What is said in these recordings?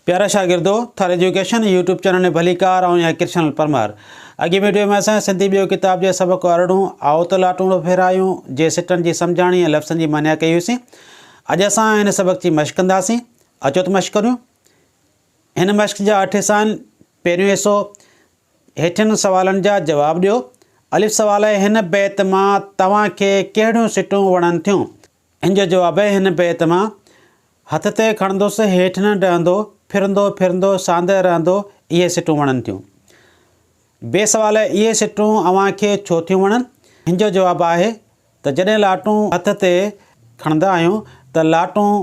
پيارا شاگردو! Thar education YouTube channel ۾ ڀليڪار آئون آهيان ڪرشنل پرمار. اڳين وڊيو ۾ اسان سنڌي ٻيو ڪتاب جي سبق ارڙهون آئو ته لاٽوڻو ڦيرايون جي سٽن جي سمجهاڻي ۽ لفظن جي معنيٰ ڪئي هئيسين. اڄ اسان هن سبق جي مشق ڪنداسين. اچو ته مشق ڪريون. هن مشق جا اٺ حصا آهن. پهريون حصو، هيٺين سوالن جا جواب ڏيو. الف سوال آهي، هن بيت مان توهان کي ڪهڙيون سٽون وڻن ٿيون؟ ان جو جواب آهي هن بيت مان، هٿ تي کڻندس هيٺ نه ڊهندو، ڦرندو ڦرندو ساندهه رهندو، اهي سٽون وڻن ٿيون. بي سوال اهي سٽون اوهان کي ڇو ٿيون وڻن؟ هن جو جواب آهي ته جڏهن لاٽون هٿ تي کڻندا آهيون ته لاٽون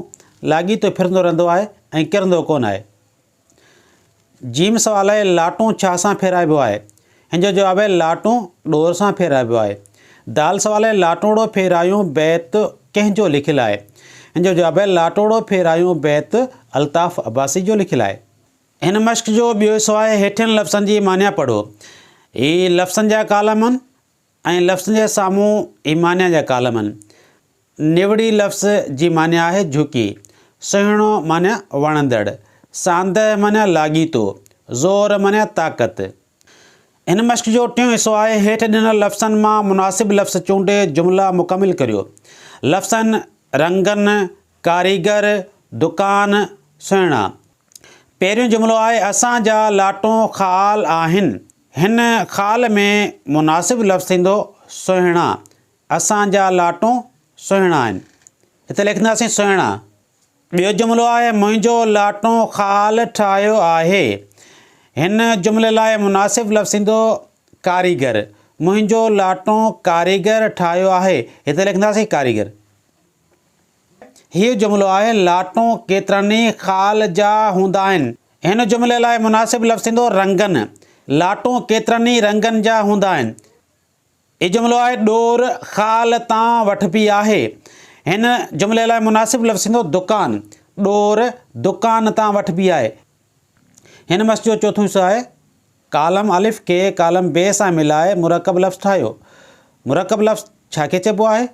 لاڳيتو ڦرندو رهندو آهي ۽ ڪرندو ڪونه آهي. جيم سوال آهي لاٽون ڇا سان ڦيرائبو آهي؟ هن جو جواب آهي لاٽون ڏور سان ڦيرائبو آهي. دال سوال آهي لاٽوڙو ڦيرايون بيت ڪنهن جو لکيل آهي؟ هن جو جواب آهي لاٽوڙو ڦيرايون بيت الطاف عباسي جو لکيل آهي. هن مشق جو ٻيو حصو آهي هيٺين لفظن جي معنيٰ پڙهو. هي لفظن جا ڪالم آهن. ائين لفظن جي سامهون ايمانيا جا ڪالمن، نوڙي لفظ جي معني آهي جهڪي، سهڻو معني وڻندڙ، ساندهه معني لاڳيتو، زور معني طاقت. هن مشق جو ٽيون حصو آهي هيٺ ڏنل لفظن مان مناسب لفظ چونڊي جملا مڪمل ڪريو. لفظن، رنگن، ڪاريگر، دڪان، سهڻا. پهريون جملو آهي، اسان جا لاٽون خال آهن. هن خال ۾ مناسب لفظ ٿيندو سهڻا، اسان جا لاٽون سهڻا آهن. هتي لکنداسين سهڻا. ٻيو جملو آهي منهنجو لاٽون خال ٺاهيو آهي. هن جملي لاء مناسب لفظ ٿيندو ڪاريگر. منهنجو لاٽون ڪاريگر ٺاهيو آهي. هتي لکنداسين ڪاريگر. هيء جملو آهي، لاٽون ڪيترن ئي خال جا هوندا آهن. هن جملي لاء مناسب لفظ ٿيندو، رنگن. لاٽون ڪيترن ئي رنگن جا هوندا آهن. هيء جملو آهي، ڏور خال تان وٺبي آهي. هن جملي لاء مناسب لفظ ٿيندو، دڪان. ڏور دڪان تان وٺبي آهي. هن مس جو چوٿون حصو آهي. ڪالم الف کي ڪالم ب سان ملائي مرڪب لفظ ٺاهيو. مرڪب لفظ ڇا کي چئبو آهي؟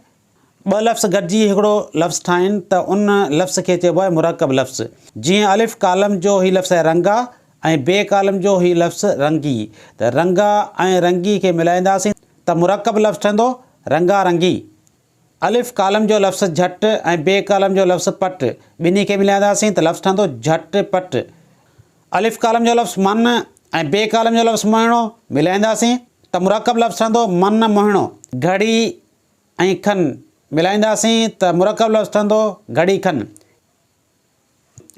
ٻه لفظ گڏجي هڪڙو لفظ ٺاهين ته ان لفظ کي چئبو آهي مرڪب لفظ. جيئن الف ڪالم جو هي لفظ آهي رنگا ۽ بي ڪالم جو هي لفظ رنگي ته رنگا ۽ رنگي کي ملائينداسين ته مرڪب لفظ ٺهندو رنگا رنگي. الف ڪالم جو لفظ جهٽ ۽ بي ڪالم جو لفظ پٽ ٻنهي کي ملائينداسين ته لفظ ٺهندو جهٽ پٽ. الف ڪالم جو لفظ من ۽ بي ڪالم جو لفظ مهڻو ملائينداسين ته مرڪب لفظ ٺهندو من مهڻو. گهڙي، ۽ کن ملائينداسين ته مرڪب لفظ ٺھندو، گھڙي کن.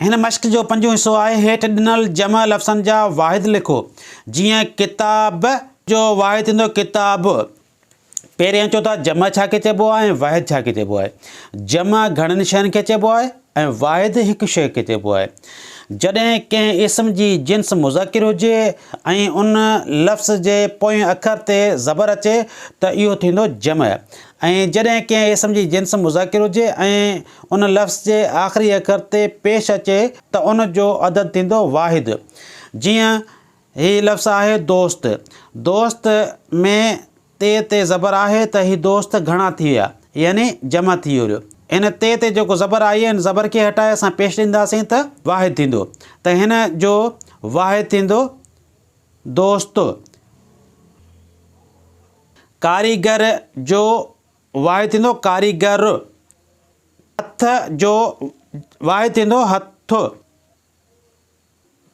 ھن مشق جو پنجون حصو آھي، ھيٺ ڏنل جمع لفظن جا واحد لکو، جيئن ڪتاب جو واحد ٿيندو ڪتابء. پھرين اچو ته جمع ڇا کي چئبو آھي ۽ واحد ڇا کي چئبو آھي؟ جمع گھڻن شين کي چئبو آھي. ۽ واحد هڪ شيء کي چئبو آهي. جڏهن ڪنهن اسم جي جنس مذڪر هجي ۽ ان لفظ جي پوئين اکر تي زبر اچي ته اهو ٿيندو جمع ۽ جڏهن ڪنهن اسم جي جنس مذڪر هجي ۽ ان لفظ جي آخري اکر تي پيش اچي ته ان جو عدد ٿيندو واحد. جيئن، هي لفظ آهي دوست. دوست ۾ ت تي زبر آهي ته هي دوست گهڻا ٿي ويا يعني جمع ٿي ويو. هن ت تي جيڪو زبر آئي هن زبر کي هٽائي اسان پيش ڏينداسين ته واحد ٿيندو ته هن جو واحد ٿيندو دوست. ڪاريگر جو واحد ٿيندو ڪاريگر. هٿ جو واحد ٿيندو هٿ.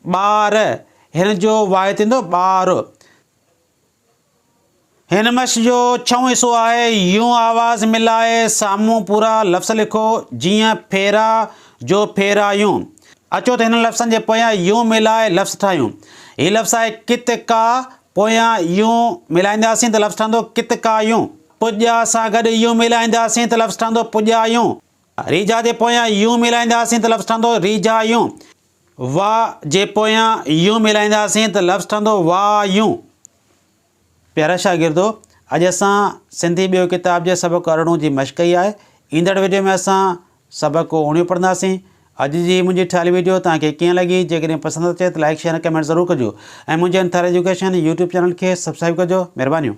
ٻار هن جو واحد ٿيندو ٻار. هن مش جو ڇهون حصو آهي. يون آواز ملائي سامهون پورا لفظ لکو، جيئن ڦيرا جو ڦيرايون. اچو ته هنن لفظن جي پويان يون ملائي لفظ ٺاهيون. هي لفظ آهي ڪت ڪا، پويان يون ملائينداسين ته لفظ ٺهندو ڪت ڪايون. پڄا سان گڏ يون ملائينداسين ته لفظ ٺهندو پڄايون. ريجها جي پويان يون ملائينداسين ته لفظ ٺهندو ريجهايون. وا جي پويان يون ملائينداسين ته لفظ ٺهندو وا يون. پيارا شاگردو اڄ اسان سنڌي ٻيو ڪتاب جي سبق ارڙهون جي مشق ڪئي آهي ايندڙ ويڊيو ۾ اسان سبق اوڻيهون پڙهنداسين اڄ جي هي منهنجي ٺاهيل ويڊيو توهان کي ڪيئن لڳي جيڪڏهن پسند اچي ته لائڪ شيئر ۽ ڪمينٽ ضرور ڪجو ۽ منهنجي انٿاري ايجوڪيشن يوٽيوب چينل کي سبسڪرائيب ڪجو مهربانيون.